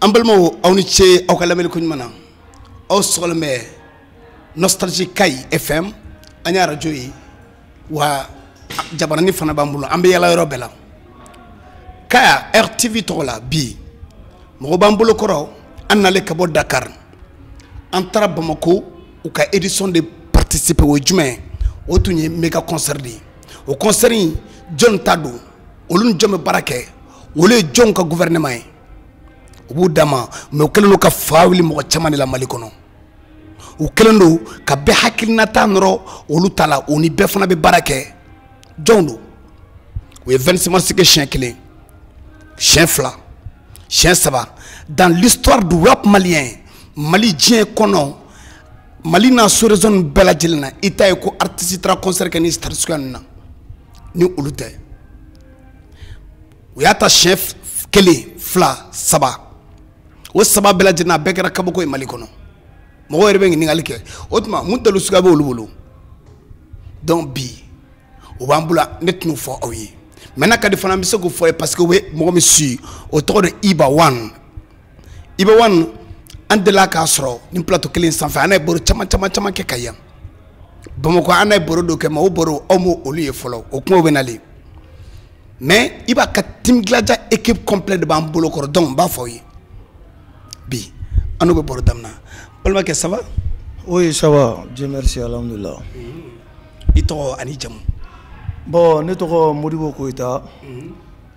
an balimaw aw ni ce aw ka lamɛnni ko ɲuman na aw sɔgɔlen bɛ nostalgie kayi fm an ye arajo ye wa jabarani fana b'an bolo an bɛ yala yɔrɔ bɛɛ la kaya rtv tɔgɔ la bi mɔgɔ b'an bolo kɔrɔ a nalen ka bɔ dakar an taara bamako u ka édition de participer o ye jumɛn ye o tun ye mega concert de ye o concert in jɔn ta don olu ni jɔn bɛ baara kɛ olu ye jɔn ka gouvernement ye u b'u dama mais u kɛlen don ka fa wuli mɔgɔ caman de la mali kɔnɔ u kɛlen don ka bɛɛ hakilinata nɔrɔ olu ta la u ni bɛɛ fana bɛ baara kɛ jɔnw don u ye 26 mars kɛ siɲɛ kelen siɲɛ fila siɲɛ saba dans l'histoire du rap malien mali diɲɛ kɔnɔ mali n'a sous région bɛɛ lajɛlen na i t'a ye ko artiste taara concert kɛ ni stade suguya nin na ni olu tɛ u y'a ta siɲɛ kelen fila saba o saba bɛɛ lajɛlen a bɛɛ kɛra kabako ye mali kɔnɔ mɔgɔ yɛrɛ bɛ ɲininkali kɛ o tuma mun dalilu suguya bɛ olu bolo donc bi u b'an bolo ne tɛn'u fɔ aw ye maintenant n'a ka di fana an bɛ se k'u fɔ aw ye parce que u bɛ mɔgɔ min suivi o tɔgɔ de iba one iba one an delila k'a sɔrɔ nin plateau kelen sanfɛ an n'a ye baro caman caman caman kɛ kayi yan bamakɔ an n'a ye baro dɔ kɛ mais o baro aw ma olu ye fɔlɔ o kumaw bɛ na le mais iba ka team gladia équipe complète de b'an bolo kɔrɔ donc n b'a fɔ aw ye bi an n'u bɛ baro daminɛ balimakɛ ça va oui ça va dieu merci alhamdulilah i tɔgɔ ani jamu bon ne tɔgɔ modibo koyita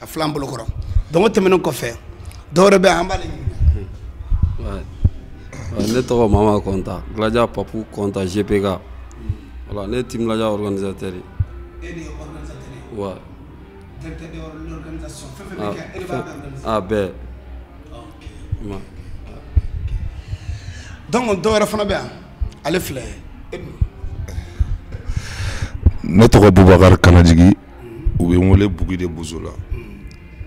a filɛ an bolo kɔrɔ donc o tɛmɛnen kɔfɛ dɔwɛrɛ bɛ an b'ale ne tɔgɔ mama kɔnta gladia papu kɔnta gpk voilà ne ye team gladia organisateur ye e de ye organisateur ye wa directeur de l'organisation fɛn fɛn bɛ kɛ e de b'a organiser a bɛɛ donc dɔwɛrɛ fana bɛ yan ale filɛ ne tɔgɔ bubakari kanajigi u bɛ n wele b de bo la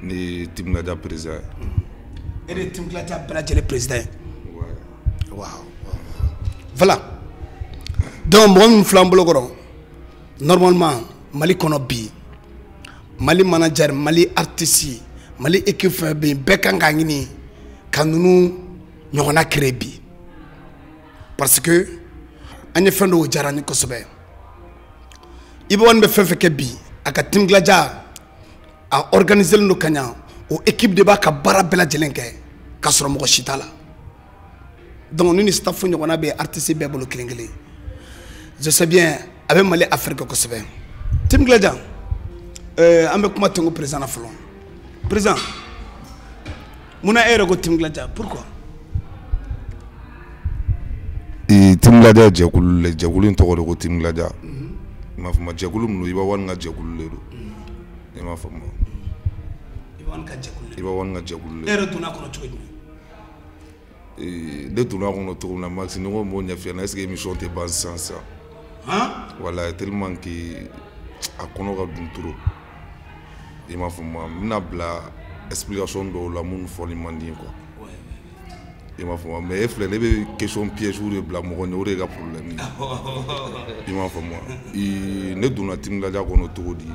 ne ye ti da perez ye e de ye ti bila bɛɛ lajɛlen perez ye dɔnku mɔgɔ min filan bolokɔrɔ nɔrɔmama mali kɔnɔ bi mali mana jari mali ritisi mali eki fɛn bɛ yen bɛɛ kan ka ɲini ka ninnu ɲɔgɔnna kere bi parce que an ye fɛn dɔw diyara ni kosɛbɛ iba one bɛ fɛn fɛn kɛ bi a ka team gladia a organiselen don ka ɲa o équipe de b'a ka baara bɛɛ lajɛlen kɛ k'a sɔrɔ mɔgɔ si t'a la donc ni nin staff ɲɔgɔnna bɛ artiste bɛɛ bolo kelen kelen je sais bien a bɛ mali afirike kosɛbɛ team gladia an bɛ kuma tenko président na fɔlɔ président mun na e yɛrɛ ko Team Gladia pourquoi ee Team Gladia jɛkulu le jɛkulu in tɔgɔ de ko Team Gladia mhm. i m'a faamu jɛkulu minnu Iba One ka jɛkulu de don mhm. i m'a faamu Iba One ka jɛkulu de don e yɛrɛ donna a kɔnɔ cogo jumɛn ee ne donna a kɔnɔ cogo min na Max ni ko n b'o ɲɛf'i ɲɛna est ce que émission tɛ ban sisan sisan wala tellement que a kɔnɔ ka dun trop i m'a faamu n bɛna bila explication dɔw la minnu fɔli man di quoi i m'a faamu mais e filɛ ne bɛ question piège de bila mɔgɔ ɲɛ o de y'e ka problème ye i m'a faamu wa ne donna Team Gladia kɔnɔ cogo di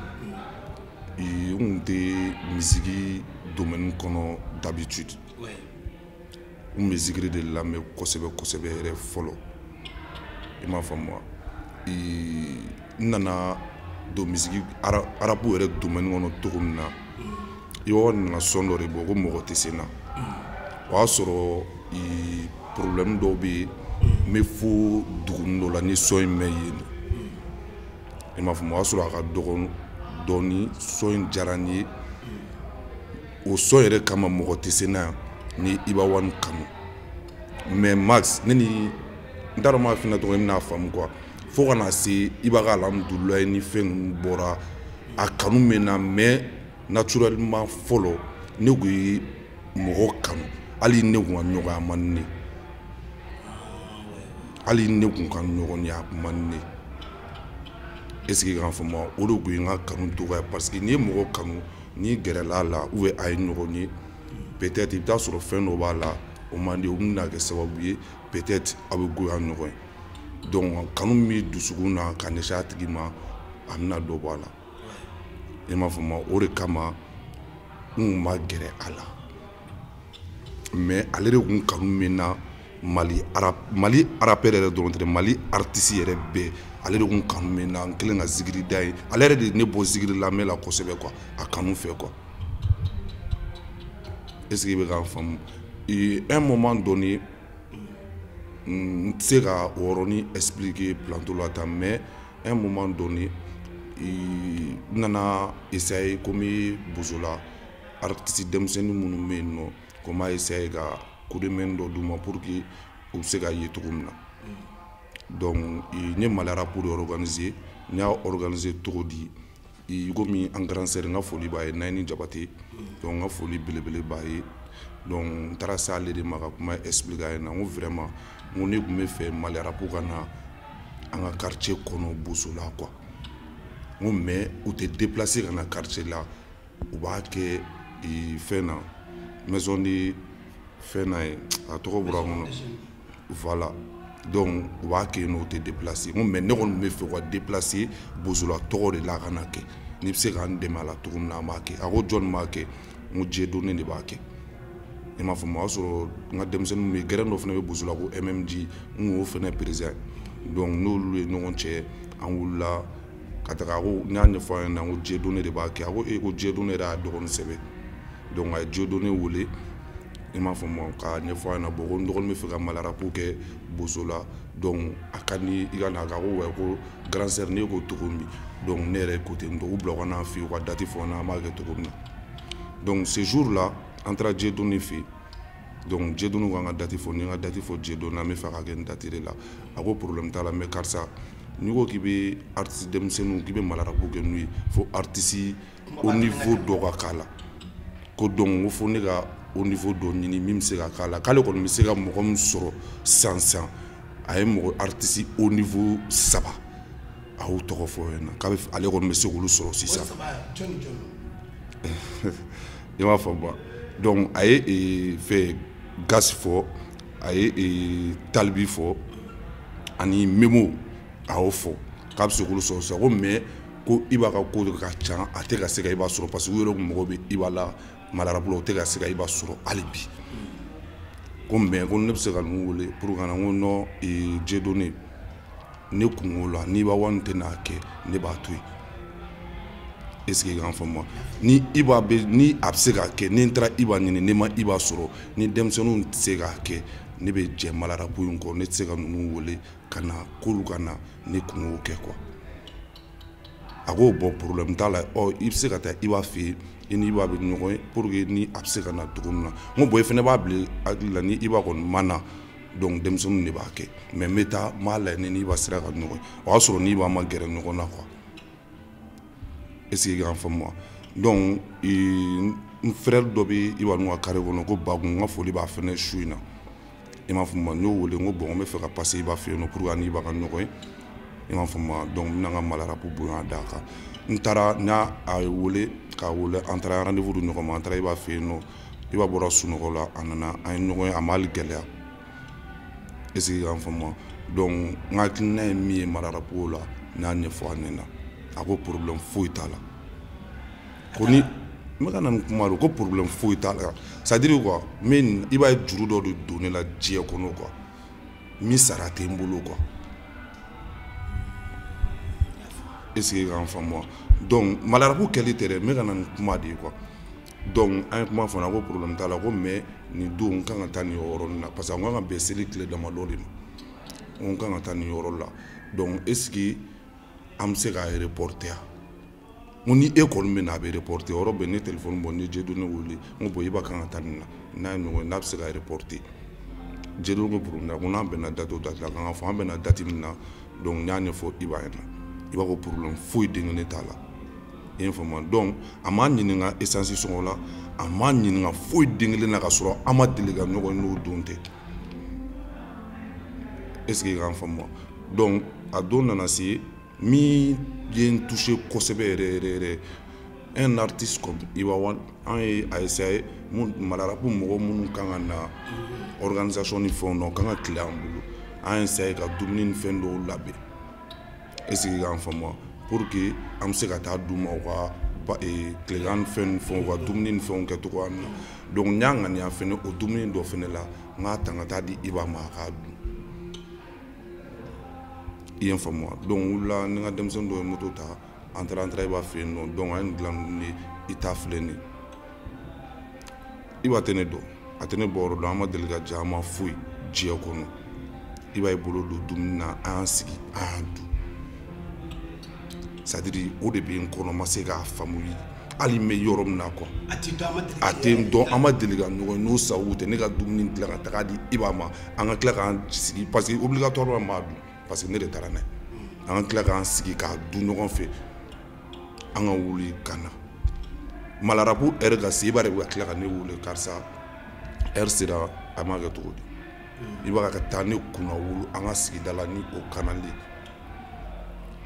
n kun tɛ misiki domaine kɔnɔ d'habitude. n bɛ zikiri de lamɛn kosɛbɛ kosɛbɛ yɛrɛ fɔlɔ i m'a faamu wa n nana don misiki rap yɛrɛ domaine kɔnɔ cogo min na Iba nana son dɔ de bɔ ko mɔgɔ tɛ se n na o y'a sɔrɔ problème dɔw bɛ yen n bɛ fo dugunin dɔ la n ye son in mɛn yen i m'a faamu o y'a sɔrɔ a ka dɔgɔn dɔɔnin son in diyara n ye o son yɛrɛ kama mɔgɔ tɛ se n na n ye Iba One kanu mais Max ne ni n t'a dɔn ma fina tɔgɔ bɛna faamu quoi fo ka na se Iba ka alhamudulila ni fɛn ninnu bɔra a kanu bɛ n na mais naturellement fɔlɔ ne kun ye mɔgɔ kanu hali ne kun ka ɲɔgɔn ye a man ɲi hali ne kun ka ɲɔgɔn ye a man ɲi est ce que k'a faamu o de kun ye n ka kanu dɔgɔya parce que n'i ye mɔgɔ kanu N'i gɛrɛla a la ou bien a ye ɲɔgɔn ye peut être i bɛ t'a sɔrɔ fɛn dɔ b'a la o man di o bɛna kɛ sababu ye peut être aw bɛ goya ɲɔgɔn ye donc kanu min b'i dusukun na ka ɲɛsin a tigi ma a bɛna dɔ bɔ a la i m'a faamu wa o de kama n tun ma gɛrɛ a la mais ale de tun kanu bɛ n na Mali rappeur yɛrɛ dɔrɔn tɛ Mali artiste yɛrɛ bɛɛ ale de kun kanu bɛ n na n kelen ka zikiri da ye ale yɛrɛ de ne bɔ zikiri lamɛn na kosɛbɛ quoi a kanu fɛ quoi est ce que i bɛ k'a faamu un moment donné n tɛ se ka o yɔrɔnin expliquer plateau la tan mais un moment donné n nana essayer komi Bozola artiste denmisɛnnin minnu bɛ yen nɔ ko n b'a essayer ka coup de main dɔ d'u ma pour que u bɛ se ka ye cogo min na donc n ye Mali rap de organiser n y'a organiser cogo di komi an grand sœur n ka foli b'a ye Nayini Jabate donc n ka foli belebele b'a ye donc n taara se ale de ma ka kuma expliquer a ɲɛna n ko vraiment n ko ne tun bɛ fɛ Mali rap ka na an ka quartier kɔnɔ Bozola quoi n ko mais u tɛ déplacer ka na quartier la u b'a kɛ fɛn na maison de fɛn na ye a tɔgɔ bɔra n kɔnɔ voilà donc u b'a kɛ yen nɔ u tɛ déplacer n ko mais ne kɔni bɛ fɛ u ka déplacer bozola tɔgɔ de la a ka na kɛ n'i bɛ se k'an dɛmɛ a la cogo min na an b'a kɛ a ko jɔni b'a kɛ n ko Dieudonné de b'a kɛ i m'a faamu o y'a sɔrɔ n ka denmisɛnninw bɛ gɛrɛn dɔ fana bɛ bozola ko MMG n kun y'o fana président ye donc n'olu ye ɲɔgɔn cɛ an wulila ka taga ko n y'a ɲɛfɔ a ɲɛna ko Dieudonné de b'a kɛ a ko e ko Dieudonné y'a dɔgɔnin sɛbɛ donc a ye Dieudonné wele i m'a faamu k'a ɲɛfɔ a ɲɛna bon ko n dɔgɔnin bɛ fɛ ka Mali rap kɛ bozola donc a ka di i ka na a ka ko ouais ko grand sœur ne ko cogo min donc ne yɛrɛ ko ten donc u bila u ka n'a fɛ yen u ka date fɔ n na an b'a kɛ cogo min na donc ce jour là an taara Dieudonné fɛ yen donc Dieudonné k'an ka date fɔ ni n ka date fɔ Dieudonné n bɛ fɛ k'a kɛ nin date de la a ko problème t'a la mais karisa n'i ko k'i bɛ artiste denmisɛnninw k'i bɛ Mali rap kɛ n'u ye fo artiste haut niveau dɔ ka k'a la ko donc ko fo ne ka haut niveau dɔ ɲini min bɛ se ka k'a la k'ale kɔni bɛ se ka mɔgɔ min sɔrɔ sisan a ye mɔgɔ artiste haut niveau saba a y'o tɔgɔ fɔ yen na k'a bɛ ale kɔni bɛ se k'olu sɔrɔ sisan. i m'a faamu donc a ye ee, fɛn gasi fɔ a ye ee, Tal B fɔ ani memo a y'o fɔ k'a bɛ se k'olu sɔrɔ sisan ko mais ko iba ka ko ka ca a tɛ ka se ka iba sɔrɔ parce que u yɛrɛ kun mago bɛ iba la Mali rap la o tɛ ka se ka iba sɔrɔ hali bi ko mais ko ne bɛ se ka ninnu wele pour ka na n ko non ee, Dieudonné ne kungo la ni iba One tɛ n'a kɛ ne b'a to yen est ce que k'an faamu wa ni iba bɛ ni a bɛ se k'a kɛ ni n taara iba ɲini ne ma iba sɔrɔ ni denmisɛnninw tɛ se k'a kɛ ne bɛ jɛ Mali rap in kɔ ne tɛ se ka ninnu wele ka na k'olu ka na ne kungo kɛ quoi a ko bon problème t'a la ɔ i bɛ se ka taa iba fɛ yen i ni iba bɛ ɲɔgɔn ye pour que ni a bɛ se ka na cogo min na n ko bon i fana b'a bila hakili la ni iba kɔni ma na donc denmisɛnninw de b'a kɛ mais n bɛ taa n b'a lajɛ ni n'iba sera ka ɲɔgɔn ye o y'a sɔrɔ n'iba ma gɛrɛ ɲɔgɔn na quoi est ce que k'an faamu wa donc n frère dɔ bɛ iba n'u ka carré kɔnɔ ko bakun n ka foli b'a fɛnɛ su in na i m'a faamu n y'o wele n ko bon n bɛ fɛ ka passer iba fɛ yen nɔ pour que n'iba ka ɲɔgɔn ye i m'a faamu donc n bɛna n ka Mali rap bonya d'a kan n taara n y'a wele k'a wele an taara rendez-vous di ɲɔgɔn ma an taara iba fɛ yen nɔ Iba bɔra sunɔgɔ la a nana an ye ɲɔgɔn ye a ma hali gɛlɛya est ce que i k'an faamuya donc n ka hakilina ye min ye malarapu la n y'a ɲɛfɔ a ɲɛna a ko problème foyi t'a la ko ni n bɛ ka na ni kuma de ko problème foyi t'a la c'est à dire quoi mais Iba ye juru dɔ de don ne la diɲɛ kɔnɔ quoi min sara tɛ n bolo quoi est ce que i k'an faamuya donc malarabu kɛli tɛ dɛ n bɛ ka na ni kuma de ye quoi donc an ye kuma fana ko problème t'a la ko mais nin don n kan ka taa nin yɔrɔnin na parce que an kan ka bɛn seli tile damadɔ de ma n kan ka taa nin yɔrɔ la donc est ce que an bɛ se k'a reporter ya n ko ni e kɔni bɛ na a bɛ reporter yɔrɔ bɛɛ ne telefɔni bɔ n ye Dieudonné wele n ko bon Iba kan ka taa nin na n'a ye ɲɔgɔn ye n'a bɛ se k'a reporter Dieudonné ko problème t'a la ko n'an bɛnna date o date la k'an k'a fɔ an bɛnna date min na donc n y'a ɲɛfɔ Iba ɲɛna Iba ko problème foyi den kelen t'a la. i ye n faamuya donc a m'a ɲininka esansi sɔngɔ la a m'a ɲininka foyi den kelen na ka sɔrɔ an ma deli ka ɲɔgɔn n'o don tɛ est ce que i k'an faamuya donc a don nana se min ye n touché kosɛbɛ yɛrɛ yɛrɛ yɛrɛ un artiste comme Iba One an ye a essayer mun malarapu mɔgɔ minnu kan ka na organisation ni fɛnw na o kan ka tilen an bolo an y'a essayer ka dumuni ni fɛn dɔw labɛn est ce que i k'an faamuya pour que an bɛ se ka taa d'u ma u ka tilegan fɛn ni fɛnw u ka dumuni ni fɛnw kɛ cogoya min na donc n y'a ŋaniya fɛnɛ o dumuni dɔ fɛnɛ la n k'a ta ka taa di Iba ma a k'a dun i ye n faamuya donc n wulila ni n ka denmisɛnnin dɔ ye moto ta an taara an taara Iba fɛ yen nɔ donc an ye nin dilan ni i ta filɛ nin ye Iba tɛ ne dɔn a tɛ ne bɔyɔrɔ dɔn an ma deli ka ja an ma foyi diɲɛ kɔnɔ Iba y'i bolo don dumuni na an y'an sigi an y'a dun c'est à dire o de bɛ n kɔnɔ ma se k'a faamuya hali n bɛ yɔrɔ min na quoi a tɛ n dɔn an ma deli ka ɲɔgɔn n'o sababu tɛ ne ka dumuni dilan ka taga di Iba ma an ka tila k'an sigi parce que obligatoirement n b'a dun parce que ne de taara n'a ye an ka tila k'an sigi k'a dun ɲɔgɔn fɛ an ka wuli ka na malarabu heure ka se Iba de bɛ ka tila ka ne wele karisa heure sera a ma kɛ cogo di Iba ka taa ne kunnawolo an ka sigida la ni o kanali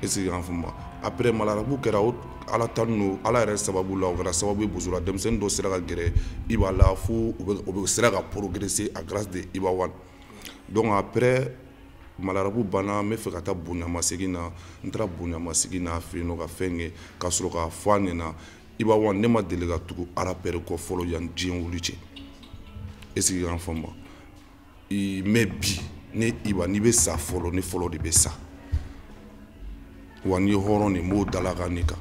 est ce que i y'an faamu après malarabu kɛra o ala tanu o ala yɛrɛ sababu la o kɛra sababu ye bozola denmisɛnnin dɔw sera ka gɛrɛ Iba la fo u bɛɛ sera ka progresser à grâce de Iba One donc après malarabu banna n bɛ fɛ ka taa bonyamasegin na n taara bonyamasegin na a fɛ yen nɔ ka fɛn kɛ ka sɔrɔ k'a fɔ a ɲɛna Iba One ne ma deli ka tugu rappeur kɔ fɔlɔ yan diɲɛ wuli cɛ est ce que y'an faamu mais bi ne iba n'i bɛ sa fɔlɔ ne fɔlɔ de bɛ sa wa n'i ye hɔrɔn de n b'o dalakan ne kan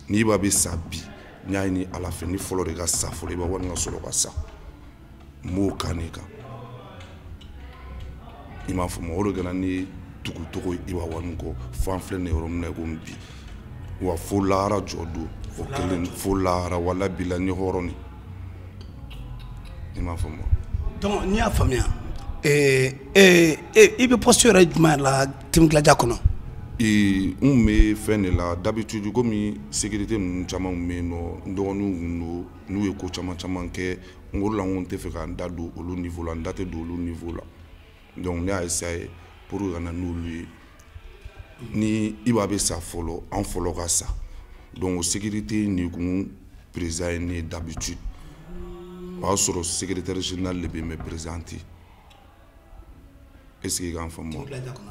ni Iba bɛ sa bi n y'a ɲini ala fɛ ne fɔlɔ de ka sa fɔlɔ Iba One ka sɔrɔ ka sa n b'o kan de kan i m'a faamu o de kɛra ne tugucogo Iba One kɔ fo an filɛ nin yɔrɔ min na i komi bi wa fo lahara jɔ don o kelen fo lahara wala bila ni hɔrɔn ni i m'a faamu donc n'i y'a faamuya ee ee i bɛ poste yɛrɛ jumɛn la Team Gladia kɔnɔ ee n bɛ fɛn de la d'habitude komi sécurité ninnu caman tun bɛ yen nɔ n dɔgɔninw tun don n'u ye ko caman caman kɛ n ko la n ko n tɛ fɛ ka n da don olu niveau la n da tɛ don olu niveau la donc ne y'a essayé pour que ka na n'olu ye ni iba bɛ sa fɔlɔ an fɔlɔ ka sa donc o sécurité in de kun président ye ne ye d'habitude o y'a sɔrɔ secrétaire général de bɛ yen mais président tɛ yen est ce que i k'an faamu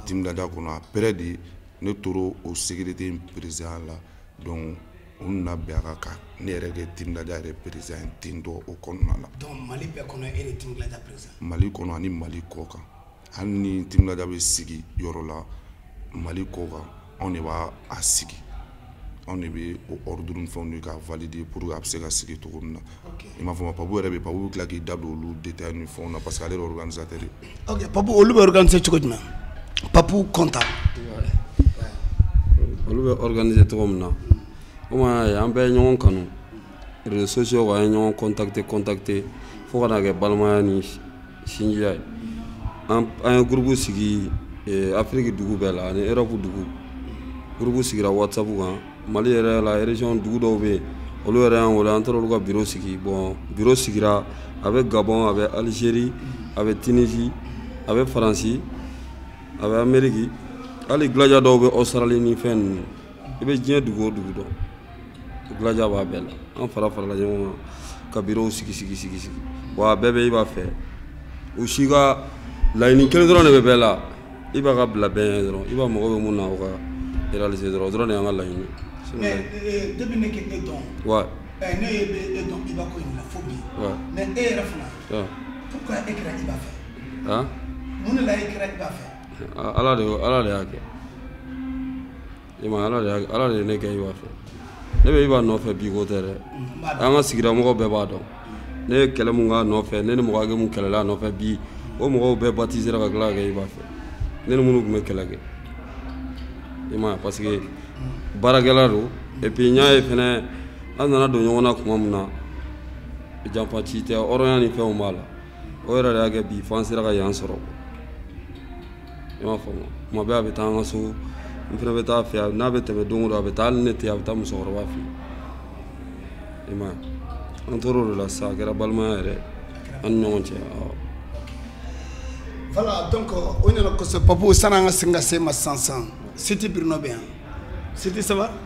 Team Gladia kɔnɔ après de ne tora o sécurité in président la donc u nana bɛn a kan ka ne yɛrɛ kɛ Team Gladia yɛrɛ président ye ten tɔ o kɔnɔna la donc Mali bɛɛ kɔnɔ e de ye Team Gladia président Mali kɔnɔ ani Mali kɔkan hali ni Team Gladia bɛ sigi yɔrɔ la Mali kɔkan anw de b'a a sigi anw de bɛ o ordre ni fɛnw di k'a valider pour que a bɛ se ka sigi cogo min na i m'a faamu Papu yɛrɛ bɛ yen Papu bɛ tila k'i da don olu détails ni fɛnw na parce que ale de ye organisateur ye. ok Papu olu bɛ organiser cogo jumɛn Papu Kɔnta. olu bɛ organiser cogo min na komi an bɛɛ ye ɲɔgɔn kanu réseaux sociaux kan an ye ɲɔgɔn contacter contacter fo ka na kɛ balimaya ni sinjiya ye an ye gurupu sigi eh, afiriki dugu bɛɛ la ani erɔpu dugu gurupu sigira whatsapp kan mali yɛrɛ la région dugu dɔw bɛ yen olu yɛrɛ y'an wele an taara olu ka biro sigi bon biro sigira a bɛ gabɔn a bɛ alizeri a bɛ tinisi a bɛ faransi a bɛ ameriki hali Gladia dɔw bɛ ɔsitarali ni fɛn ninnu i bɛ diɲɛ dugu o dugu dɔn Gladia b'a bɛɛ la an fara farala ɲɔgɔn kan ka birow sigi sigi sigi sigi wa a bɛɛ bɛ Iba fɛ u si ka laɲini kelen dɔrɔn de bɛ bɛɛ la Iba ka bila bɛɛ ɲɛ dɔrɔn Iba mago bɛ mun na o ka réaliser dɔrɔn o dɔrɔn de y'an ka laɲini mais euh, depuis ne kɛ e dɔn wa eh, ne ye bɛ e dɔn iba ko in na fo bi Ouais. mais e yɛrɛ fana Ah. pourquoi e kɛra iba fɛ han mun de la e kɛra iba fɛ A- ala de y'o- ala de y'a kɛ e ma ala de y'a- ala de ye ne kɛ iba fɛ ne bɛ iba nɔfɛ bi ko tɛ dɛ an ka sigida mɔgɔw bɛɛ b'a dɔn ne ye kɛlɛ mun k'a nɔfɛ ne ni mɔgɔ hakɛ mun kɛlɛla a nɔfɛ bi o mɔgɔw bɛɛ batisera ka tila ka kɛ iba fɛ ne ni minnu tun bɛ kɛlɛ kɛ i m'a ye parce que baarakɛla don et puis n y'a ye fɛnɛ an nana don ɲɔgɔn na tuma min na janfanci tɛ hɔrɔnya ni fɛnw b'a la o yɛrɛ de y'a kɛ bi fo an sera ka yan sɔrɔ i m'a faamu tuma bɛɛ a bɛ taa an ka so n fana bɛ taa a fɛ n'a bɛ tɛmɛ don o don a bɛ taa hali ne tɛ a bɛ taa musokɔrɔba fɛ i m'a ye an tor'o de la sisan a kɛra balimaya yɛrɛ an ni ɲɔgɔn cɛ awɔ. voilà donc o ɲɛna kosɛbɛ papu sani an ka segin ka se e ma sisan sisan siti bruno bɛ yan siti ça va.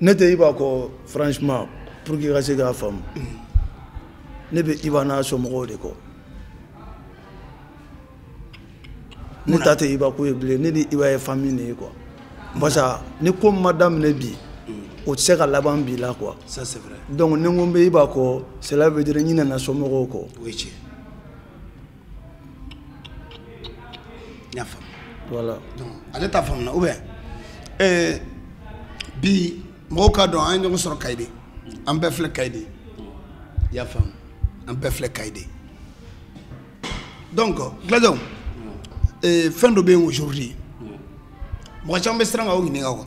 ne tɛ iba kɔ franchement pour que i ka se k'a faamu ne bɛ iba n'a somɔgɔw de kɔ ne ta tɛ iba ko ye bilen ne ni iba ye famille de ye quoi parce que ni ko ma daminɛ bi o tɛ se ka laban bi la quoi ça c'est vrai donc ni n ko n bɛ iba kɔ cela veut dire n ɲinɛna somɔgɔw kɔ o ye tiɲɛ n y'a faamu. voilà donc ale t'a faamu na ou bien ɛɛ eh, bi mɔgɔw k'a dɔn an ye ɲɔgɔn sɔrɔ Kayi de an bɛɛ filɛ Kayi de i y'a faamu an bɛɛ filɛ Kayi de donc Gladiaw ee eh, fɛn dɔ bɛ yen aujourd'hui mɔgɔ caman bɛ siran ka o ɲininka quoi.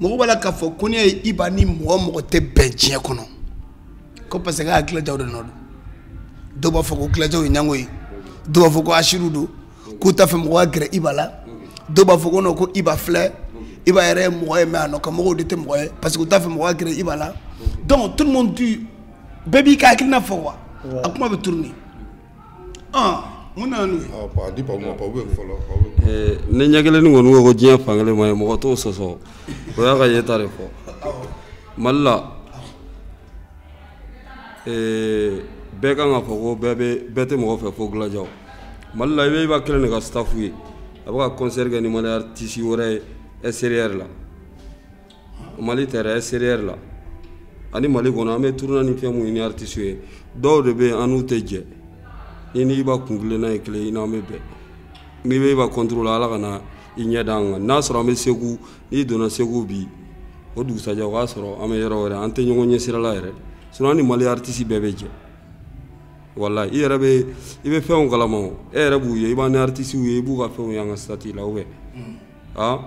mɔgɔ b'a la k'a fɔ ko ne ye iba ni mɔgɔ o mɔgɔ tɛ bɛn diɲɛ kɔnɔ ko parce que a gladiaw de nɔ don dɔw b'a fɔ ko gladiaw ye ɲango ye dɔw b'a fɔ ko hasidiw don k'u t'a fɛ mɔgɔ ka gɛrɛ iba la dɔw b'a fɔ ko non ko iba filɛ iba yɛrɛ ye mɔgɔ ye mais a nɔkan mɔgɔw de tɛ mɔgɔ ye parce que u t'a fɛ mɔgɔ ka gɛrɛ iba la donc tout le monde bɛɛ b'i ka hakilina fɔ quoi a kuma bɛ tourner N nana n'u ye, ɔ bon a di Babu ma, Babu bɛ yen fɔlɔ, Babu bɛ yen, ni ɲɛkelennin kɔni ko ko diɲɛ fan kelen ma ye mɔgɔ t'o sɔsɔ o y'a ka yeta de fɔ, awɔ, Mali la ee bɛɛ kan k'a fɔ ko bɛɛ bɛ bɛɛ tɛ mɔgɔ fɛ fo Gladiaw Mali la i bɛ Iba kelen de ka staff ye a bɛ ka concert kɛ ni Mali artiste wɛrɛ ye extérieur la mali tɛ dɛ extérieur la ani mali kɔnɔ an bɛ tourner ni fɛn mun ni artistew ye dɔw de bɛ yen an n'u tɛ jɛ i ni iba kun kelenna ye kelen i n'an bɛ bɛn n'i bɛ iba contre la ala ka na i ɲɛ da an kan n'a sɔrɔ an bɛ segu n'i donna segu bi o dugusajɛ o b'a sɔrɔ an bɛ yɔrɔ wɛrɛ an tɛ ɲɔgɔn ye sira la yɛrɛ sinon an ni mali artiste bɛɛ bɛ jɛ walayi i yɛrɛ bɛ i bɛ fɛnw kalama o e yɛrɛ b'u ye i b'an ni artistew ye i b'u ka fɛnw ye an ka statut la ou bien aa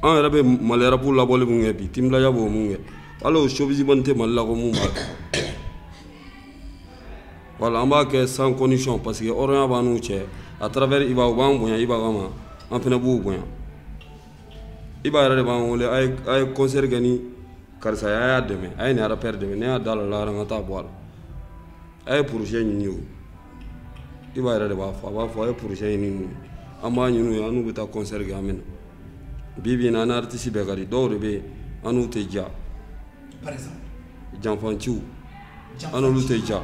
an yɛrɛ bɛ mali rap labɔli mun kɛ bi team gladia b'o mun kɛ hali o showbiz man tɛ mali la ko mun b'a kɛ voilà an b'a kɛ sans condition parce que hɔrɔnya b'an n'u cɛ à travers iba u b'an bonya iba kama an fana b'u bonya iba yɛrɛ de b'an wele a ye a ye concert kɛ ni karisa ye a y'a dɛmɛ a ye nin rappeur dɛmɛ ne y'a da la la an ka taa bɔ a la a ye projet ɲini ye o iba yɛrɛ de b'a fɔ a b'a fɔ a ye projet ɲini u ye an b'a ɲini u ye an n'u bɛ taa concert kɛ an bɛ na bi bi in na an ni artiste bɛɛ ka di dɔw de bɛ yen an n'u tɛ diya janfanciw an n'olu tɛ diya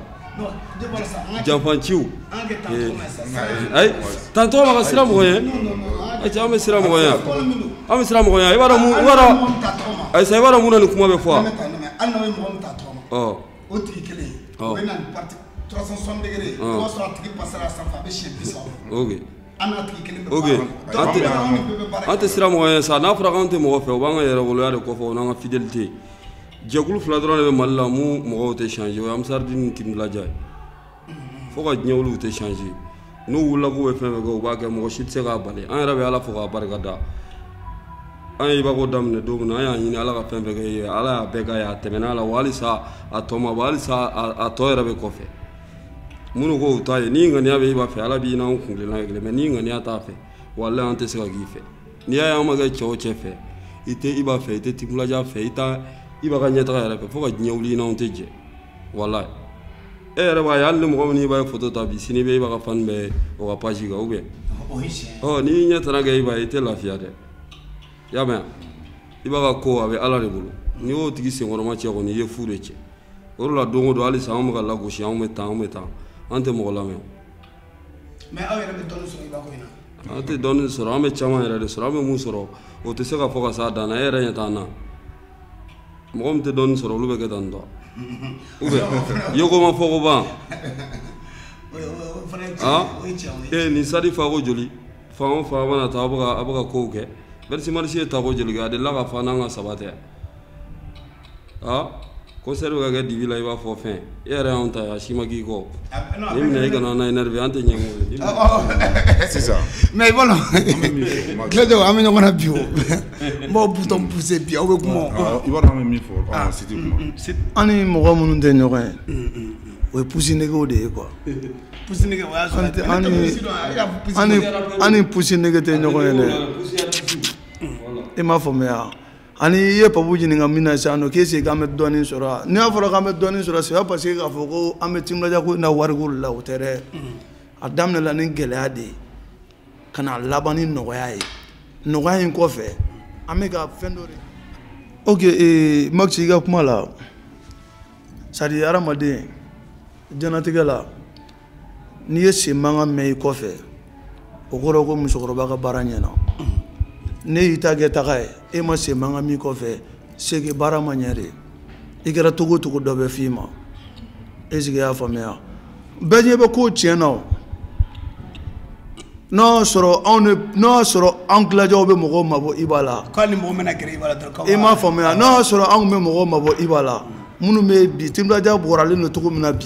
janfanciw ayi tantɔ ma ka siran mɔgɔ ye ayisa an bɛ siran mɔgɔ ye an bɛ siran mɔgɔ ye i b'a dɔn mun i b'a dɔn ayisa i b'a dɔn mun na ni kuma bɛ fɔ wa ɔ o tigi kelen o bɛ na ni parti trois cent soixante degrés o b'a sɔrɔ a tigi passera sanfɛ a bɛ siɲɛ bi saba an n'a tigi kelen bɛ baara la an tɛ siran mɔgɔ ye sa n'a fɔra k'an tɛ mɔgɔ fɛ o b'an ka yɛrɛwoloya de kɔfɛ o n'an ka fidélité jɛkulu fila dɔrɔn de bɛ mali la mun mɔgɔw tɛ changer o ye ansardine ni team gladia ye fo ka diɲɛ wuli u tɛ changer n'u wulila k'u bɛ fɛn fɛn kɛ u b'a kɛ mɔgɔ si tɛ se k'a bali an yɛrɛ bɛ ala fo k'a barika da an ye iba ko daminɛ don min na an y'a ɲini ala ka fɛn fɛn kɛ ye ala y'a bɛɛ k'a ye a tɛmɛna a la wa halisa a tɔ ma bɔ halisa a tɔ yɛrɛ bɛ kɔfɛ minnu ko u ta ye n'i ŋaniya bɛ iba fɛ ala b'i n'an kuntilenna ye kelen mais n'i ŋaniya t'a fɛ walayi an tɛ se ka k'i fɛ n'i y'a ye an ma kɛ cɛ o cɛ fɛ i tɛ iba fɛ i tɛ team gladia fɛ i tɛ iba ka ɲɛtaga yɛrɛ fɛ fo ka diɲɛ wuli i n'anw tɛ jɛ walayi e yɛrɛ b'a ye hali ni mɔgɔ min n'iba ye foto ta bi sini bɛ iba ka fan bɛɛ o ka page kan ou bien ɔ n'i y'i ɲɛ tana kɛ iba ye i tɛ lafiya dɛ i y'a mɛn iba ka ko a bɛ ala de bolo n'i y'o tigi senkɔrɔmacɛ kɔni i ye fu de cɛ o de la don o don halisa anw bɛ ka lagosi anw bɛ tan anw bɛ tan an tɛ mɔgɔ lamɛn mais aw yɛrɛ bɛ dɔɔni sɔrɔ iba ko in na an tɛ dɔɔni sɔrɔ an bɛ caman yɛrɛ de sɔrɔ an bɛ mun sɔrɔ o tɛ se ka fɔ ka s'a dan na e yɛrɛ ɲɛ t'an na mɔgɔ min tɛ dɔɔnin sɔrɔ olu bɛ kɛ tan tɔ ou bien yeko ma fɔko ban ee nin stade fa ko joli fan o fan a mana taa a bɛ ka a bɛ ka kow kɛ vingt-six mars ye tako joli kɛ a delila k'a fa n'an ka sababu tɛ aa concert bɛ ka kɛ dibi la i b'a fɔ fɛn E yɛrɛ y' ta a si ma k'i kɔ i kana n' énerver an tɛ ɲɛ sisan mais i bolo tile an bɛ ɲɔgɔn na bi o n baw bu buse bi aw bɛ kuma an ni mɔgɔ minnu tɛ ɲɔgɔn ye o ye pussy niggaw de ye quoi an ni pussy nigga tɛ ɲɔgɔn ye dɛ i m'a faamuya ani i ye Papou ɲininka min na sisan nɔ k'est ce qu'an bɛ dɔɔnin sɔrɔ wa n'a fɔra k'an bɛ dɔɔnin sɔrɔ c'est pas parce que k'a fɔ ko an bɛ Team Gladia ko in na wariko de la o tɛ dɛ a daminɛla ni gɛlɛya de ye ka na laban ni nɔgɔya ye nɔgɔya in kɔfɛ an bɛ ka fɛn dɔ de ok ee Max i ka kuma la c'est à dire hadamaden diɲɛlatigɛ la n'i ye sen mankan mɛn i kɔfɛ o kɔrɔ ko musokɔrɔba ka baara ɲɛna n'i y'i ta kɛ taga ye e ma sen mankan mɛn i kɔfɛ c'est que baara ma ɲɛ dɛ i kɛra cogo o cogo dɔ bɛ f'i ma est ce que y'a faamuya bɛɛ ɲɛ bɛ ko tiɲɛ na o n'o y'a sɔrɔ anw de n'o y'a sɔrɔ anw Gladiaw bɛ mɔgɔw mabɔ Iba la k'ali mɔgɔ mana gɛrɛ Iba la dɔrɔn k'aw i m'a faamuya n'o y'a sɔrɔ anw bɛ mɔgɔw mabɔ Iba la minnu bɛ bi Team Gladia bɔralen don cogo min na bi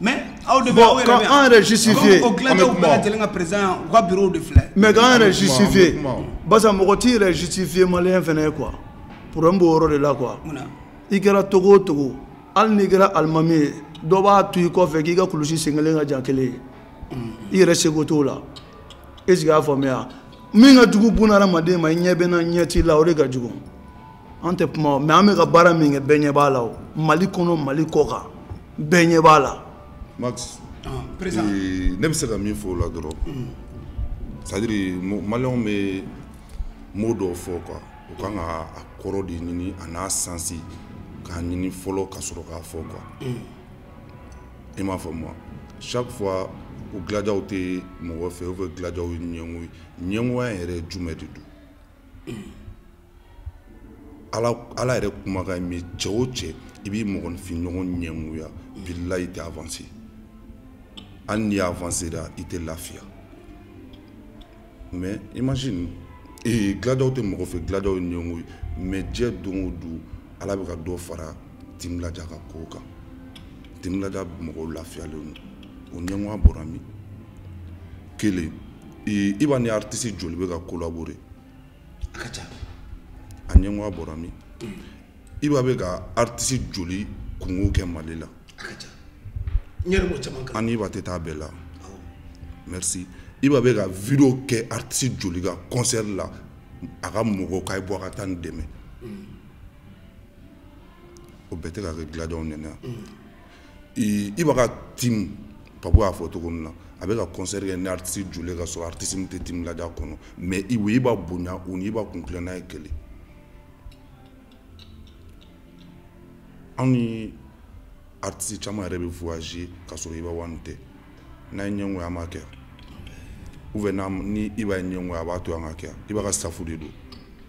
Mais aw de bon, k'an yɛrɛ justifié o Gladiaw bɛɛ lajɛlen ka président u ka bureau de filɛ mais k'an yɛrɛ justifié basa mɔgɔ t'i yɛrɛ justifié malien fɛnɛ ye quoi problème b'o yɔrɔ de la quoi i kɛra cogo o cogo hali n'i kɛra alimami ye dɔ b'a to i kɔfɛ k'i ka kulusi sen kelen ka jan kelen ye i yɛrɛ sago t'o la est ce que y'a faamuya min ka jugu buna hadamaden ma i ɲɛ bɛ n na n ɲɛ t'i la o de ka jugu an tɛ kuma mais an bɛ ka baara min kɛ bɛɛ ɲɛ b'a la o mali kɔnɔ mali kɔ kan bɛɛ ɲɛ b'a la Max ah, eh, ne bɛ se ka min fɔ o la dɔrɔn mm. c'est à dire maliyɛnw bɛ mot dɔw fɔ quoi u kan ka a kɔrɔ de ɲini a n'a sens k'a ɲini fɔlɔ ka sɔrɔ k'a fɔ quoi mm. i m'a faamu wa chaque fois ko Gladiaw tɛ mɔgɔ fɛ ou bien Gladiaw ye ɲɛngo ye ɲɛngoya yɛrɛ jumɛn de don mm. ala yɛrɛ kumakan min cɛ o cɛ i b'i mɔgɔninfin ɲɔgɔn ɲɛngoya bilahi i tɛ avancer hali n'i avancera i tɛ lafiya mais imagine ee Gladiaw tɛ mɔgɔ fɛ Gladiaw ye ɲɛngo ye mais diɲɛ don o don ala bɛ ka dɔ fara Team Gladia ka ko kan Team Gladia mɔgɔw lafiyalen don o ɲɛngoya bɔra min kelen Iba ni artiste joli bɛ ka collaborer a ɲɛngoya bɔra min Iba bɛ ka artiste joli kunko kɛ mali la ani Iba tɛ taa bɛɛ la merci Iba bɛ ka vidéo kɛ artiste joli ka kɔnsɛri la a ka mɔgɔw k'a ye bɔ a ka taa nin dɛmɛ o bɛɛ tɛ ka kɛ Gladiaw ɲ Iba ka team Papou y'a fɔ cogo min na a bɛ ka concert kɛ ni artiste joli ye ka sɔrɔ artiste min tɛ Team Gladia kɔnɔ mais u b'Iba bonya u n'Iba kuntilenna ye kelen anw ni artiste caman yɛrɛ bɛ voyager ka sɔrɔ Iba One tɛ n'a ye ɲɛngoya an b'a kɛ ou bien ni Iba ye ɲɛngoya a b'a to an ka kɛ Iba ka staff de don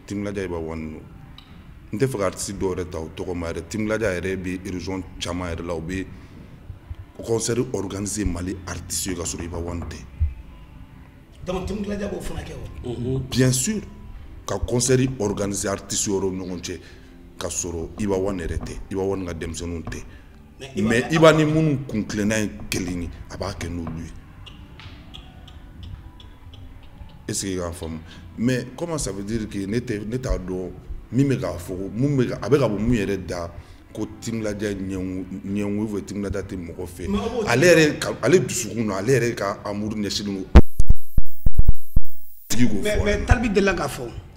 Team Gladia Iba One don n tɛ fɛ ka artiste dɔw yɛrɛ ta u tɔgɔ ma yɛrɛ Team Gladia yɛrɛ bɛ région caman yɛrɛ la u bɛ concert organiser Mali artiste ye ka sɔrɔ Iba One tɛ donc Team Gladia b'o fana kɛ wa bien sûr ka concert organiser artiste wɛrɛw ni ɲɔgɔn cɛ ka sɔrɔ Iba One yɛrɛ tɛ Iba One ka denmisɛnninw tɛ mais Iba ni minnu kuntilenna ye kelen ye a b'a kɛ n'olu ye est ce que i k'a faamu mais comment ça veut dire que ne tɛ ne t'a dɔn min bɛ k'a fɔ ko mun bɛ a bɛ ka bɔ mun yɛrɛ da ko Team Gladia ɲɛngo ou bien Team Gladia tɛ mɔgɔ fɛ ale yɛrɛ ka ale dusukun na ale yɛrɛ ka amour ɲɛsinnen don tigi k'o fɔ mais mais Tal B delila k'a fɔ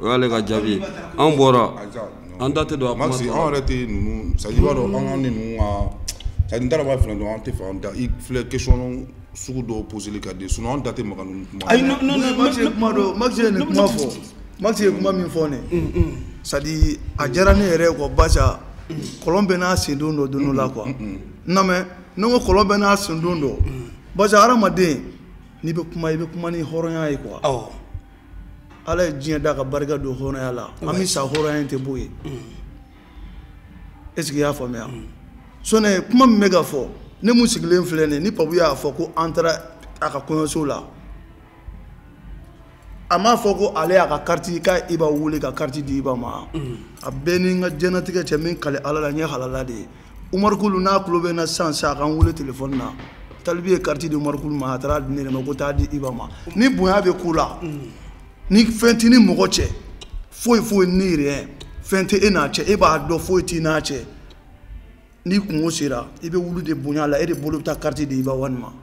o y'ale ka jaabi ye an bɔra an da tɛ don a kuma tɔ la. an yɛrɛ tɛ ninnu c'est à dire i b'a dɔn an ka ninnu ka c'est à dire n t'a dɔn n b'a f'i ɲɛna dɔrɔn an tɛ fɛ an da i filɛ question sugu dɔw poseli ka di sinon an da tɛ maga ninnu kuma ayi non non non Max ye kuma dɔ Max ye nin kuma fɔ Max ye kuma min fɔ nin c'est à dire a diyara ne yɛrɛ ye quoi barisa kɔlɔn bɛɛ n'a sendon don don dɔ la quoi non mais ne ko kɔlɔn bɛɛ n'a sendon don barisa hadamaden n'i bɛ kuma i bɛ kuma ni hɔrɔnya ye quoi awɔ ala ye diɲɛ da ka barika don hɔrɔnya la an bɛ sa hɔrɔnya in tɛ bɔ yen est ce que i y'a faamuya sɔnɛ kuma min bɛ ka fɔ ne mun sigilen filɛ nin ye ni Papou y'a fɔ ko an taara a ka kɔɲɔso la a m'a fɔ ko ale y'a ka kariti ka Iba wele ka kariti di Iba ma a bɛ n ni n ka diɲɛnatigɛ cɛ n bɛ n kali ala la n ye halala de ye Oumar Coul n'a tulo bɛ n na sisan sisan a ka n wele telefɔni na Tal B ye kariti di Oumar Coul ma a taara di ne de ma ko taa di Iba ma ni bonya bɛ ko la ni fɛn t'i ni mɔgɔ cɛ foyi foyi ni rien fɛn tɛ e n'a cɛ e b'a dɔn foyi t'i n'a cɛ n'i kunko sera i bɛ wuli de bonya la e de bolo bɛ taa kariti di Iba One ma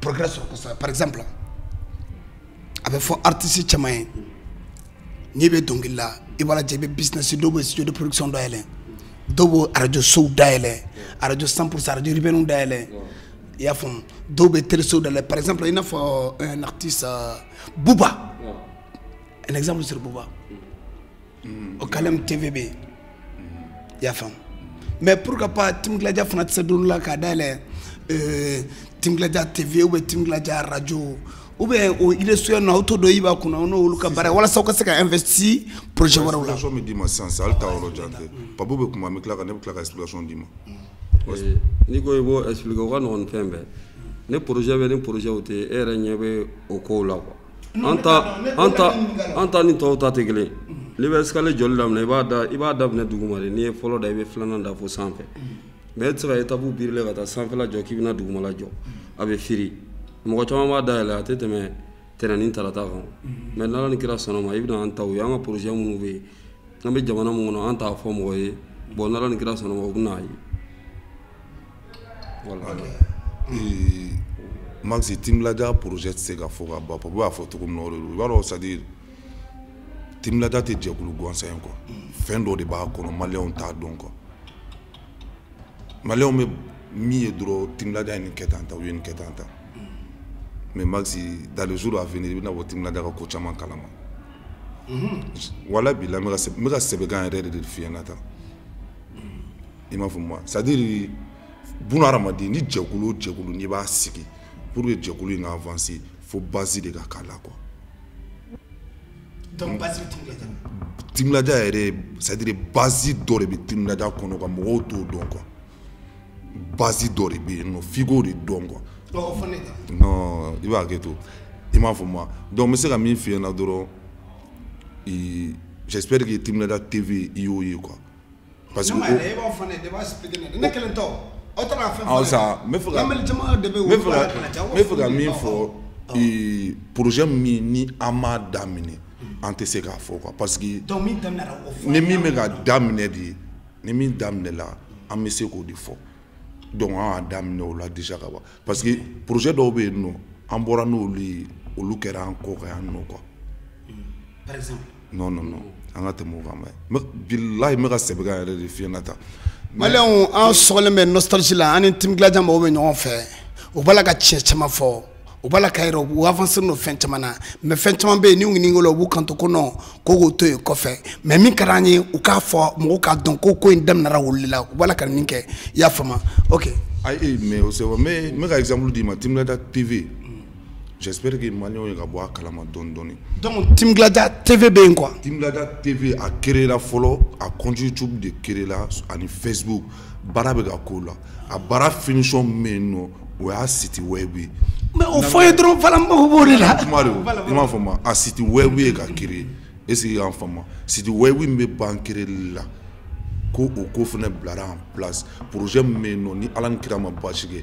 progrès sɔrɔ kosɛbɛ par exemple a bɛ fɔ artiste caman ye n'i bɛ dɔnkili la i b'a lajɛ i bɛ business dɔw bɛ studio de production dayɛlɛ dɔw bɛ arajosow dayɛlɛ arajo 100 pour cent arajo urbaine dayɛlɛ i y'a faamu dɔw bɛ telesow dayɛlɛ par exemple i n'a fɔ un artiste euh, Booba un exemple sur Booba. mm-hmm. OKLM TV bɛ yen mm-hmm. i y'a faamu mais pourquoi pas Team Gladia fana tɛ se don dɔ la k'a dayɛlɛ euh, Team Gladia TV ou bien Team Gladia radio ou bien o ilesuya na aw to dɔ Iba kunna o n'olu ka baara walasa aw ka se ka investir projet wɛrɛw la. explication bɛ d'i ma sisan sisan hali taa yɔrɔ jan tɛ Papou bɛ kuma an bɛ tila ka ne bɛ tila ka explication d'i ma. Eh, n'i ko i b'o expliquer o ka nɔgɔn ni fɛn bɛɛ ne projet bɛ ni projet o tɛ e yɛrɛ ɲɛ bɛ o kow la quoi. an ta ni tɔw ta tɛ kelen n'i bɛ escalier jɔli daminɛ i b'a da i b'a daminɛ duguma de n'i ye fɔlɔ da i bɛ filanan da fo sanfɛ mais e tɛ se ka étape brûler ka taa sanfɛla jɔ k'i bɛna dugumala jɔ a bɛ firi mɔgɔ caman b'a dayɛlɛ a tɛ tɛmɛ tɛnɛn ni tarata kan mais n'ala ni kira sɔnna ma i bɛna an taw ye an ka projet minnu bɛ yen an bɛ jamana minnu kɔnɔ an t'a fɔ mɔgɔ ye bon n'ala ni kira sɔnna ma u bɛna a ye masi tija pze tɛ se ka fɔ ka ba fɔ b'a fɔ cogo i b'a dɔn sadi tija tɛ jɛkulu gansan in kɔ fɛn dɔ de b'a kɔnɔ maliw t'a dɔn kɔ maliw bɛ min ye dɔrɔn tija in kɛ tan ta u ye nin kɛ tan ta mɛ ma dalen su a f i bɛna bɔ tija ka ko caman kalama wala b'i la n bɛka ka sɛbɛnkan yɛrɛ de de fiɲɛna tan i m'a faamu c'est à dire buna hadamaden ni jɛkulu o jɛkulu n'i b'a sigi pour que jɛkulu in ka avancer fo base de ka k'a la quoi donc base Team Gladia yɛrɛ c'est à dire base dɔ de bɛ Team Gladia kɔnɔ ka mɔgɔw t'o dɔn quoi base dɔ de bɛ yen nɔ f'i k'o de dɔn quoi non i b'a hakɛ to i m'a faamu wa donc n bɛ se ka min f'i ɲɛna dɔrɔn j'espère que Team Gladia TV i y'o ye quoi Parce que e b'a fɔ ne de b'a expliquer ne ye, ne kelen tɛ o, aw tɛ k'a fɛn fɔ ne ye, awɔ sa, n bɛ fɛ ka, lamɛnni jama de bɛ yen, n bɛ fɛ ka, n bɛ fɛ ka min fɔ ee projet min ni an m'a daminɛ an tɛ se k'a fɔ quoi parce que donc min daminɛna o fɔ an ye, ni min bɛ ka daminɛ de, ni min daminɛna an bɛ se k'o de fɔ donc an y'a daminɛ o la déjà ka ban parce que projet dɔw bɛ yen nɔ an bɔra n'olu ye olu kɛra an kɔ kan yan nɔ quoi, par exemple non non non an ka tɛmɛ o kan bani, bilahi n bɛ ka sɛbɛkan yɛrɛ de f'i ɲɛna tan, maliyɛnw an sɔgɔlen bɛ nostalgie la an ni Team Gladia mɔgɔw bɛ ɲɔgɔn fɛ u b'a la ka tiɲɛ caman fɔ u b'a la k'a jira u avancer len don fɛn caman na mais fɛn caman bɛ yen n'u ɲininka o la u b'u kanto ko non ko k'o to yen kɔfɛ mais min ka d'an ye u k'a fɔ mɔgɔw k'a dɔn ko ko in daminɛra olu de la u b'a la ka nin kɛ i y'a faamu wa ok ayi mais o c'est vrai n bɛ ka exemple d'i ma Team Gladia TV J'espère que maliyɛnw ye ka bɔ a kalama dɔɔni dɔɔni. Donc Team Gladia TV bɛ yen quoi. Team Gladia TV a créer la fɔlɔ a compte YouTube de créer la ani Facebook baara bɛ ka k'o la a baara finition min bɛ yen nɔ o y'a site web ye. Mais o fɔ n ye dɔrɔn voila n mago b'o de la. Kuma de don i m'a faamu a site web ye ka créer est ce que i y'a faamu site web min bɛ ban créer li la ko o ko fana bilara en place projet min bɛ yen nɔ ni Ala ni kira ma baasi kɛ.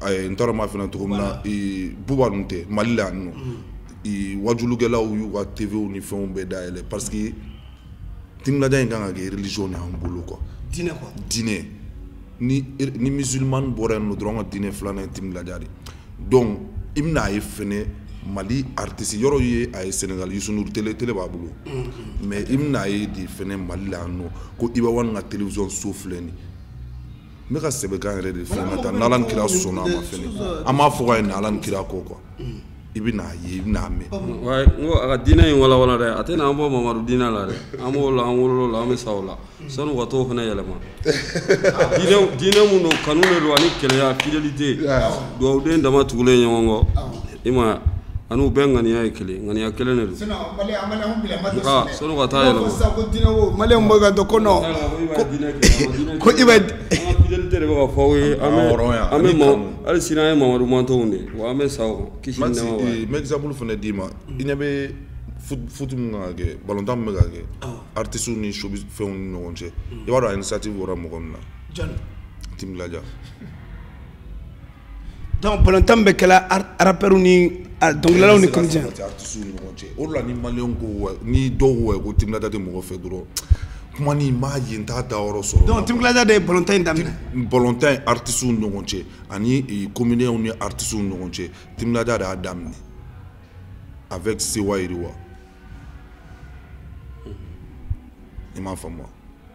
A ye n tɔɔrɔ ma fana tɔgɔ min na buba tɛ mali la n wajukɛlaw y'u ka tɛbiw ni fɛnw bɛɛ da yɛlɛ pa que tda in kan ka kɛrilizsi ni'an bolo kɔ dinɛ ni mizmani bɔra n dɔrɔn ka diinɛ filanan ti lajɛ de dɔn i bɛna a ye f mali ritesi yɔrɔ ye a ye sengali s t t b'a bolo mɛ i bɛna a ye de f mali la yan nɔ ko i bɛ ka tzsɔn so filɛ nin n bɛ ka sɛbɛkan yɛrɛ de f'i ɲɛna tan n'ala ni kira sɔnna a ma fɛnɛ an b'a fɔ ka ye n'ala ni kira kɔ quoi i bɛna a ye i bɛna a mɛn n ko a ka diinɛ in walawala dɛ a tɛna an bɔ Mamadu diinɛ la dɛ an b'o la an wolola an bɛ sa o la sani u ka t'o fana yɛlɛma diinɛ mun don kanu de don ani kɛlɛya fidélité dugawuden dama tugulen ɲɔgɔn kɔ I ma ani bɛ ŋaniya ye kelen ŋaniya kelen de don hali sini an ye mamadu mant de wa an bɛ sa mɛsauru fana d'i ma i ɲɛ bɛ futa kɛ batan bɛ ka kɛ aratisow ni su fɛnw ni ɲɔgɔn cɛ i b'a dɔn a ye sati bɔra mɔgɔ min na tija Donc balontan bɛ kɛla rappeur ni dɔnkilidalaw ni comédien artistes ni ɲɔgɔn cɛ o de la ni maliyɛnw ko ouais ni dɔw ko ouais ko Team Gladia tɛ mɔgɔ fɛ dɔrɔn kuma nin n b'a ye n t'a dayɔrɔ sɔrɔ donc Team Gladia de ye balontan in daminɛ balontan ye artistes ni ɲɔgɔn cɛ ani comédiens ni artistes ni ɲɔgɔn cɛ Team Gladia de y'a daminɛ avec Sewa Yiriwa i m'a faamu wa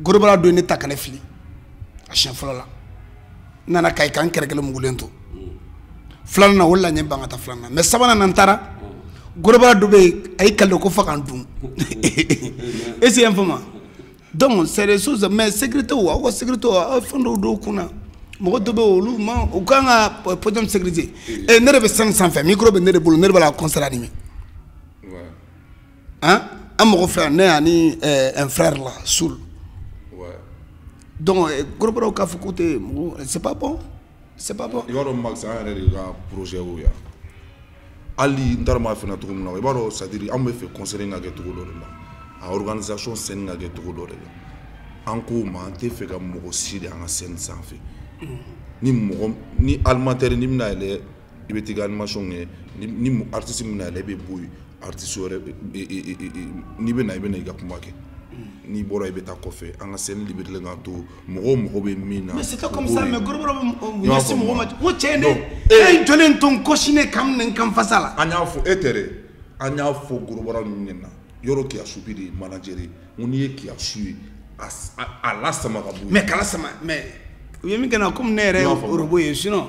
gros bras dɔ ye ne ta ka ne fili a siɲɛ fɔlɔ la n nana Kayi ka n kɛrɛ kelen mugulen to filanan na o la n ye ban ka taa filanan na mais sabanan na n taara gros bras dɔ bɛ yen a y'i kale ko fo ka n dun est-ce que i y'a faamu donc c'est des choses mais sécurité o aw ka sécurité o aw fɛn dɔw don kun na mɔgɔ dɔ bɛ yen olu ma u kan ka podium sécurité ɛ ne de bɛ scène sanfɛ micro bɛ ne de bolo ne de b'a la concert animer an an mɔgɔ fila ne ani un frère là Soul donc gros brasw k'a fɔ k'u tɛ mɔgɔ c'est pas bon i b'a dɔn Max an yɛrɛ de ka projet o yan hali n t'a dɔn n b'a f'i ɲɛna cogo min na i b'a dɔn c'est-à-dire an bɛ fɛ concert in ka kɛ cogo dɔ de la a organisation scène ka kɛ cogo dɔ de la an k'o ma an tɛ fɛ ka mɔgɔ si de an ka scène sanfɛ ni mɔgɔ ni animateur ni bɛna yɛlɛ i bɛ t'i ka animation kɛ ni ni artiste bɛna yɛlɛ i bɛ bɔ yen artiste wɛrɛ n'i bɛ na i bɛ na i ka kuma kɛ n'i bɔra i bɛ taa kɔfɛ an ka scène libérer k'a to mɔgɔw mago bɛ min na mais c'est pas comme ça mais gros bras bɛ ɲɛsin mɔgɔ ma n ko cɛ ye ne e ye jɔlen to n kɔsi ne ka minɛ n kan fasa la an y'a fɔ e tɛ dɛ an y'a fɔ gros bras ninnu ɲɛna yɔrɔ kiyasu bi de ye manager ye n ko n'i ye kiyasu ye a lasama ka bɔ yen mais k'a lasama mais u ye min kɛ n na komi ne yɛrɛ ye orobo ye sinon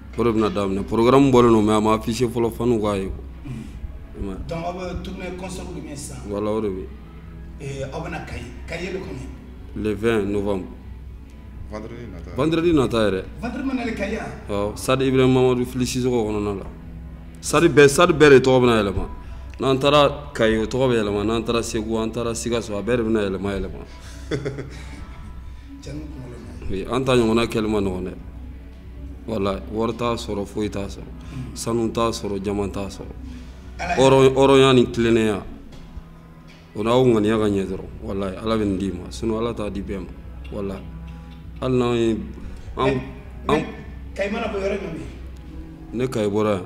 O de bɛna daminɛ programme bɔlen don mais a ma afficher fɔlɔ fanw k'a ye voilà o de bɛ le 20 novembre vendredi nata yɛrɛ stade Ibrahim Mamadu Fili Sisɔkɔ kɔnɔna la stade stade bɛɛ de tɔgɔ bɛna yɛlɛma n'an taara Gao tɔgɔ bɛ yɛlɛma n'an taara segu an taara Sikaso a bɛɛ de bɛna yɛlɛma yɛlɛma an ta ɲɔgɔnna kɛli man nɔgɔn dɛ walayi wari t'a sɔrɔ foyi t'a sɔrɔ mm. sanu t'a sɔrɔ diamant t'a sɔrɔ hɔrɔnya ni tilennenya o n'aw ŋaniya ka ɲɛ dɔrɔn walayi ala bɛ nin d'i ma sinon ala t'a di bɛɛ ma walayi hali n'anw ye an an kayi mana bɔ yɔrɔ jumɛn ne kayi bɔra yan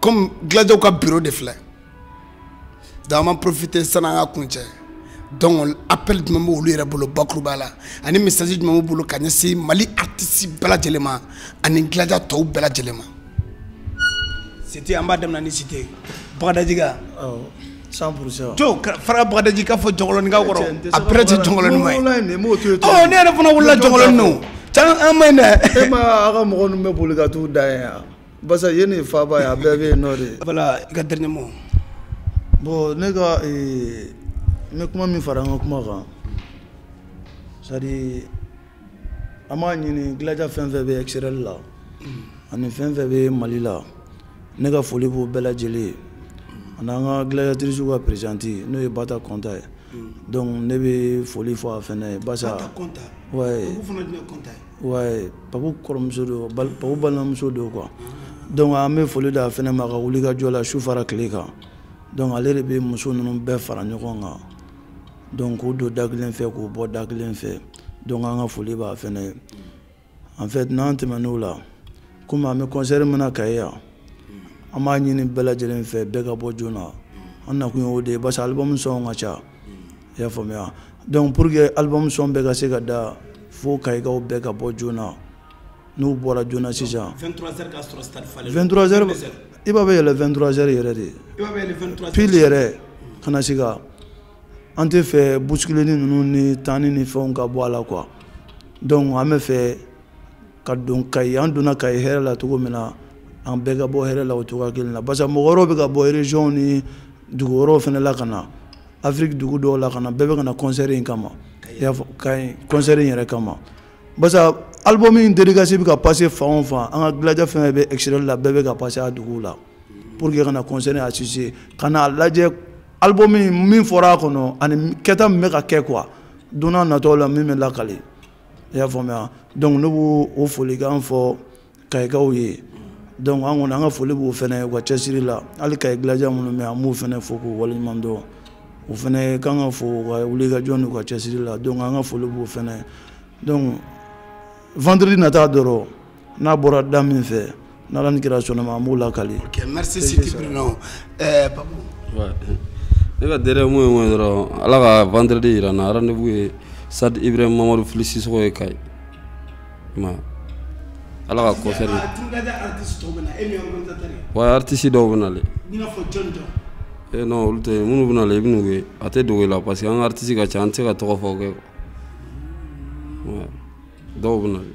comme gladiaw ka bureau de filɛ donc an b'a profiter sani an ka kuncɛ donc appel jumɛn bɛ olu yɛrɛ bolo bakuruba la ani message jumɛn b'u bolo ka ɲɛsin mali artiste bɛɛ lajɛlen ma ani gladia tɔw bɛɛ lajɛlen ma site an b'a daminɛ ni site bagadajika cent pourcent to fara bagadaji k'a fɔ jɔnkɔlɔni ka kɔrɔ a bɛrɛ tɛ jɔnkɔlɔni ma ye ɔ ne yɛrɛ fana wulila jɔnkɔlɔni na can an ma ɲi dɛ e ma a ka mɔgɔ ninnu bɛ boli ka t'u da yan Basa ye ne faba ye a bɛɛ bɛ yen nɔ de voilà i ka dernier mot bon ne ka ne kuma min fara an ka kuma kan Sadi an b'a ɲini gladia fɛn fɛn bɛ extérieur la ani fɛn fɛn bɛ mali la ne ka foli b'u bɛɛ lajɛlen ye ani an ka gladiatricew ka présidente n'o ye Bata Kɔnta ye donc ne bɛ foli fɔ a fana ye basa Ouais, Papu kɔrɔmuso don, Papu balimamuso don quoi. Donc an bɛ foli d'a fana ma a ka wuli ka jɔ la su fara tile kan. Donc ale de bɛ muso ninnu bɛɛ fara ɲɔgɔn kan. Donc k'u don da kelen fɛ k'u bɔ da kelen fɛ. Donc an ka foli b'a fana ye. En fait n'an tɛmɛn'o la, komi an bɛ concert min na Kayi yan, an b'a ɲini bɛɛ lajɛlen fɛ bɛɛ ka bɔ joona. An nakun ye o de ye parce que album son ka ca. i y'a faamuya donc pour que album son bɛɛ ka se ka da fo kayikaw bɛɛ ka bɔ joona n'u bɔra joona sisan 23 heures ka sɔrɔ stade falen 23 heures Iba bɛ yɛlɛ 23 heures yɛrɛ de pile yɛrɛ kana se ka an tɛ fɛ bousculeni ninnu ni tanni ni fɛnw ka bɔ a la quoi donc an bɛ fɛ ka don kayi an donna kayi hɛrɛ la cogo min na an bɛɛ ka bɔ hɛrɛ la o cogoya kelen na parce que mɔgɔ wɛrɛw bɛ ka bɔ région ni dugu wɛrɛw fana la ka na afiriki dugu dɔw la ka na bɛɛ bɛ ka na concert in kama i y'a fɔ kayi concert in yɛrɛ kama parce que album in dédicace bɛ ka passer fan o fan an ka gladiateur fɛn fɛn bɛ extérieur la bɛɛ bɛ ka passer a duguw la pour que ka na concert in assister ka n'a lajɛ album min fɔra a kɔnɔ ani kɛta min bɛ ka kɛ quoi don nataw la min bɛ lakale i y'a faamuya donc ne b'o o folikan fɔ kayikaw ye donc an kɔni an ka foli b'o fɛnɛ u ka cɛsiri la hali kayi gladia minnu bɛ an b'u fɛnɛ fo k'u waleɲuman dɔn u fɛnɛ kan ka fo u ka wulikajɔ n'u ka cɛsiri la donc an ka foli b'o fɛnɛ donc vendredi nata dɔrɔn n'a bɔra da min fɛ n'ala ni kira sɔnna a ma an b'o lakali ok merci sidi bruno eh, papu ne ka dernier mot ye mun ye dɔrɔn ala ka vendredi yira an na rendez-vous ye stade ibrahim mamadu fili sisɔgɔ ye kayi wa ala ka concert ouais artiste dɔw bɛ na le e non olu tɛ minnu bɛ na le i bɛn'u ye a tɛ dogo i la parce que an ka artiste ka ca an tɛ se ka tɔgɔ fɔ kɛ dɔw bɛ na le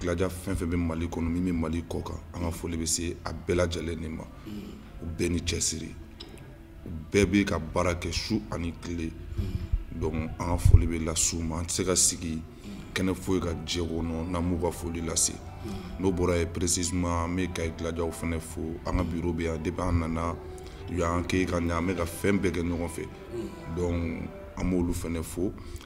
gladia fɛn fɛn bɛ mali kɔnɔ min bɛ mali kɔ kan an ka foli bɛ se a bɛɛ lajɛlen de ma u bɛɛ ni cɛsiri u bɛɛ bɛ ka baara kɛ su ani tile donc an ka foli bɛ lase u ma an tɛ se ka sigi kɛnɛ foyi kan diɲɛ kɔnɔ n'an m'u ka foli lase n'o bɔra yen précisément an bɛ kayi gladiaw fɛnɛ fo an ka bureau bɛ yan depuis an nana u y'an kɛ ka ɲɛ an bɛ ka fɛn bɛɛ kɛ ɲɔgɔn fɛ donc an b'olu fɛnɛ fo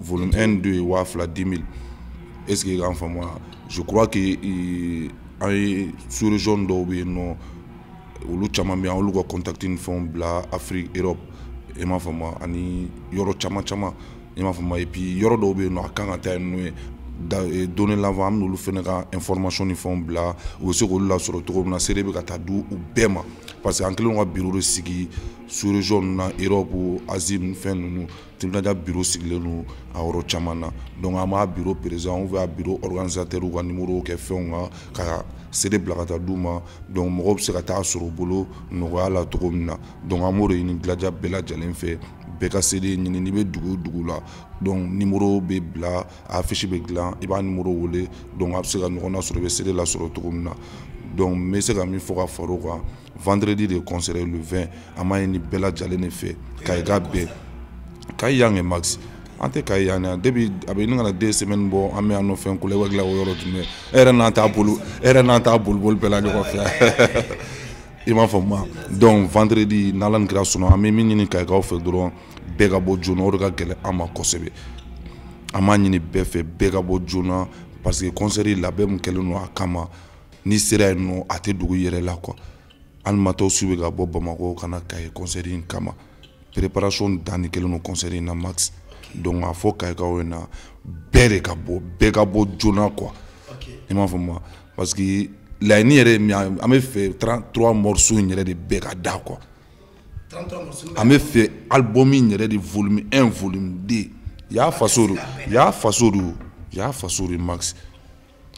volume 1 2 ye waa fila dix mille est ce que y'an faamu wa je crois que euh, an ye sous région dɔw bɛ yen nɔ olu caman bɛ yan olu ka contact ni fɛnw bila afrique europe i m'a faamu wa ani yɔrɔ caman caman i m'a faamu wa et puis yɔrɔ dɔw bɛ yen nɔ a kan ka taa yen n'o ye da eh, dorénavant an b'olu fɛnɛ ka information ni fɛnw bila u bɛ se k'olu lasɔrɔ cogo min na cd bɛ ka taa di u bɛɛ ma parce que an kɛlen don ka bureau de sigi sous région ninnu na europe asie ninnu fɛn ninnu team gladia bureau sigilen don a yɔrɔ caman na donc an b'a bureau président ou bien a bureau organisateur ka numéro kɛ fɛnw kan ka cd bila ka taa d'u ma donc mɔgɔw bɛ se ka taa a sɔrɔ u bolo nɔgɔya la cogo min na donc an b'o de ɲini gladia bɛɛ lajɛlen fɛ bɛɛ ka cd ɲini n'i bɛ dugu o dugu la donc numéro bɛ bila affiche bɛ dilan i b'a numéro wele donc a bɛ se ka ɲɔgɔn nasɔrɔ i bɛ cd lasɔrɔ cogo min na donc n bɛ se ka min fɔ ka far'o kan vendredi de concert le 20 an b'a ɲini bɛɛ lajɛlen de fɛ kayikaw bɛɛ kayi yan kɛ max an tɛ kayi yan yan depuis a bɛ ɲini ka na 2 semaines bɔ an bɛ yan nɔ fɛn kulɛba dilan o yɔrɔ tun bɛ e yɛrɛ n'an t'a bolo e yɛrɛ n'an t'a boliboli bɛɛ la ɲɔgɔn fɛ i m'a faamu donc vendredi n'ala ni kira sɔnna an bɛ min ɲini kayikaw fɛ dɔrɔn bɛɛ ka bɔ joona o de ka gɛlɛn an ma kosɛbɛ an b'a ɲini bɛɛ fɛ bɛɛ ka bɔ joona parce que concert labɛn min kɛlen don a kama n'i sera yen nɔ a tɛ dugu yɛrɛ la quoi hali matos bɛ ka bɔ bamakɔ ka na kayi concert in kama préparation dan de kɛlen don concert in na max donc a fɔ kayikaw ɲɛna bɛɛ de ka bɔ bɛɛ ka bɔ joona quoi i m'a faamu parce que laɲini yɛrɛ min an bɛ fɛ 33 morceaux in yɛrɛ de bɛɛ ka da quoi an bɛ fɛ album in yɛrɛ de volume 1 volume 2 y'a faso do y'a faso do y'a faso de max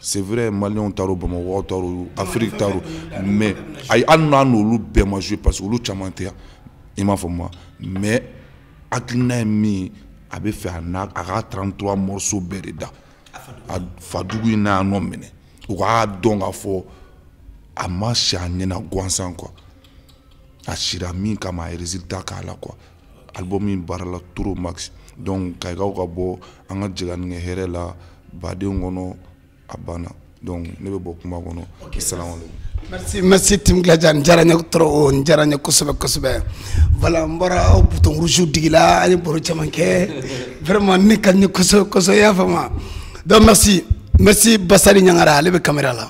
c'est vrai maliens taar'o bamakɔ taar'o afiriki taar'o mais ayi hali n'a n'olu bɛɛ ma jouer parce que olu caman tɛ yan i m'a faamu mais hakilina ye min ye a bɛ fɛ a n'a a ka 33 morceaux bɛɛ de da a fadugu in na a nɔ minɛ u k'a dɔn k'a fɔ a ma si a ɲɛna gansan quoi a sira min kama a ye résultat k'a la quoi album in baarala trop max donc kayikaw ka bɔ an ka jɛ ka nin kɛ hɛrɛ la badenya kɔnɔ a banna donc ne bɛ bɔ kuma kɔnɔ salamaleykum merci merci tim glaja n diyara n ye trop n diyara n ye kosɛbɛ kosɛbɛ voilà n bɔra aw bouton rouge digila an ye baro caman kɛ vraiment nin ka di n ye kosɛbɛ kosɛbɛ i y'a faamu donc merci merci basari ɲangara ale bɛ kamera la